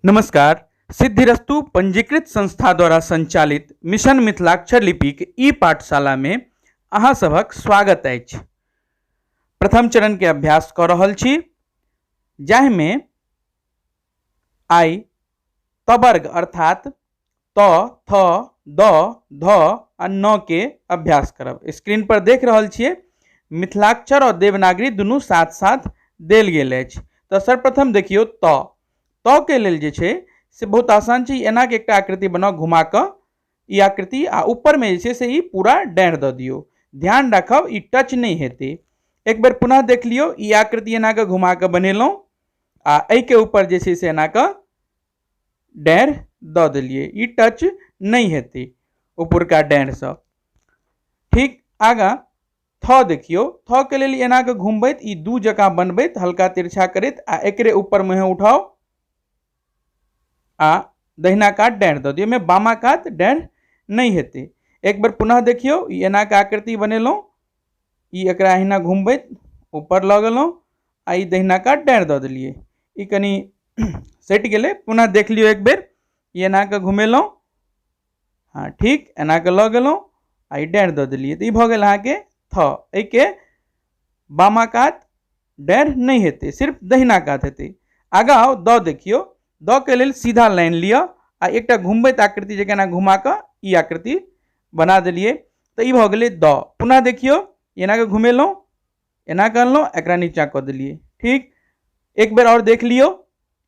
नमस्कार सिद्धिरस्तु पंजीकृत संस्था द्वारा संचालित मिशन मिथिलाक्षर लिपिक ई पाठशाला में अहाँ सभक स्वागत अछि प्रथम चरण के अभ्यास कऽ रहल छी जाहिमे आइ तबर्ग अर्थात त थ द ध आ न के अभ्यास करब स्क्रीन पर देख रहल छियै मिथिलाक्षर और देवनागरी दुनू साथ साथ देल गेल अछि तऽ सर्वप्रथम देखियौ त त के लेल जे छै से बहुत आसान छै एना के एकटा आकृति बनाउ घुमा कऽ ई आकृति आ ऊपर में जे छै से ई पूरा डाँड़ दऽ दियौ ध्यान राखब ई टच नहि हेतै एक बेर पुनः देख लियौ ई आकृति एना कऽ घुमा कऽ बनेलहुँ आ एहिके ऊपर जे छै से एना कऽ डाँड़ दऽ देलिए ई टच नहि हेतै उपरका डाँड़सँ ठीक आगाँ थऽ देखियौ थऽके लेल एना कऽ घुमबैत ई दू जकाँ बनबैत हल्का तिरछा करैत आ एकरे ऊपर मुँहे उठाउ आ दहिना कात डाँड़ दऽ दियौ ओहिमे बामा कात डाँड़ नहि हेतै एक बेर पुनः देखियौ ई एना कऽ आकृति बनेलहुँ ई एकरा अहिना घुमबैत ऊपर लऽ गेलहुँ आ ई दहिना कात डाँड़ि दऽ देलियै ई कनि सटि गेलै पुनः देख लियौ एक बेर ई एना कऽ घुमेलहुँ हँ ठीक एना कऽ लऽ गेलहुँ आ ई डाँड़ि दऽ देलियै तऽ ई भऽ गेल अहाँके थऽ एहिके बामा कात डैड नहि हेतै सिर्फ दहिना कात हेतै आगाँ आउ द देखियौ द के लेल सीधा लाइन लिअ आ एकटा घुमबैत आकृति जकाँ एना घुमा कऽ ई आकृति बना देलियै तऽ ई भऽ गेलै द पुनः देखियौ एना कऽ घुमेलहुँ एना कऽ अनलहुँ एकरा नीचाँ कऽ देलियै ठीक एक बेर आओर देख लियौ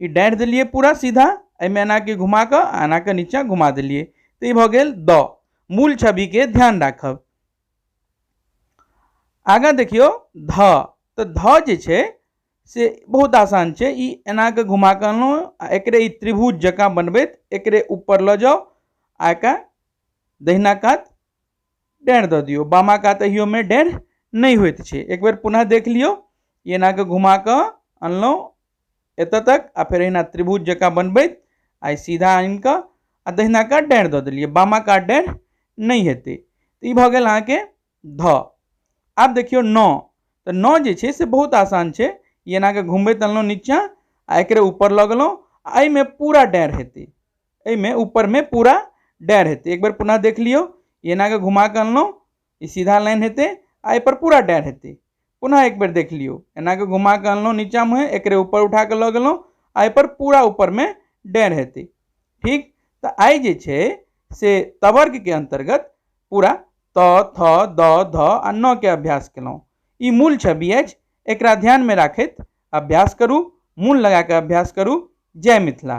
ई डाँटि देलियै पूरा सीधा एहिमे एनाके घुमा कऽ आ एनाके नीचाँ घुमा देलियै तऽ ई भऽ गेल द मूल छविके ध्यान राखब आगाँ देखियौ ध तऽ ध जे छै से बहुत आसान छै ई एनाके घुमा कऽ अनलहुँ आ एकरे ई त्रिभुज जकाँ बनबैत एकरे ऊपर लऽ जाउ आ एकरा दहिना कात डेढ़ दऽ दियौ बामा कात एहियोमे डेढ़ नहि होइत छै एक बेर पुनः देख लियौ ई एनाके घुमा कऽ अनलहुँ एतऽ तक आ फेर एहिना त्रिभुज जकाँ बनबैत आइ सीधा आनि कऽ आ दहिना कात डाँड़ि दऽ देलियै बामा कात डाँड़ि नहि हेतै तऽ ई भऽ गेल अहाँके धऽ आब देखियौ नऽ तऽ नऽ जे छै से बहुत आसान छै ई एनाके घुमबैत अनलहुँ नीचाँ आ एकरे ऊपर लऽ गेलहुँ आ एहिमे पूरा डाँड़ि हेतै एहिमे ऊपरमे पूरा डाँड़ि हेतै एक बेर पुनः देख लियौ ई एनाके घुमा कऽ अनलहुँ ई सीधा लाइन हेतै आ एहिपर पूरा डायर हेतै पुनः एक बेर देख लियौ एनाके घुमा कऽ अनलहुँ नीचाँ मुँहे एकरे ऊपर उठा कऽ लऽ गेलहुँ आ एहिपर पूरा ऊपरमे डायर हेतै ठीक तऽ आइ जे छै से तवर्गके अन्तर्गत पूरा त थ द ध आ न के अभ्यास केलहुँ ई मूल छवि अछि एकरा ध्यानमे राखैत अभ्यास करू मूल लगा कऽ अभ्यास करू जय मिथिला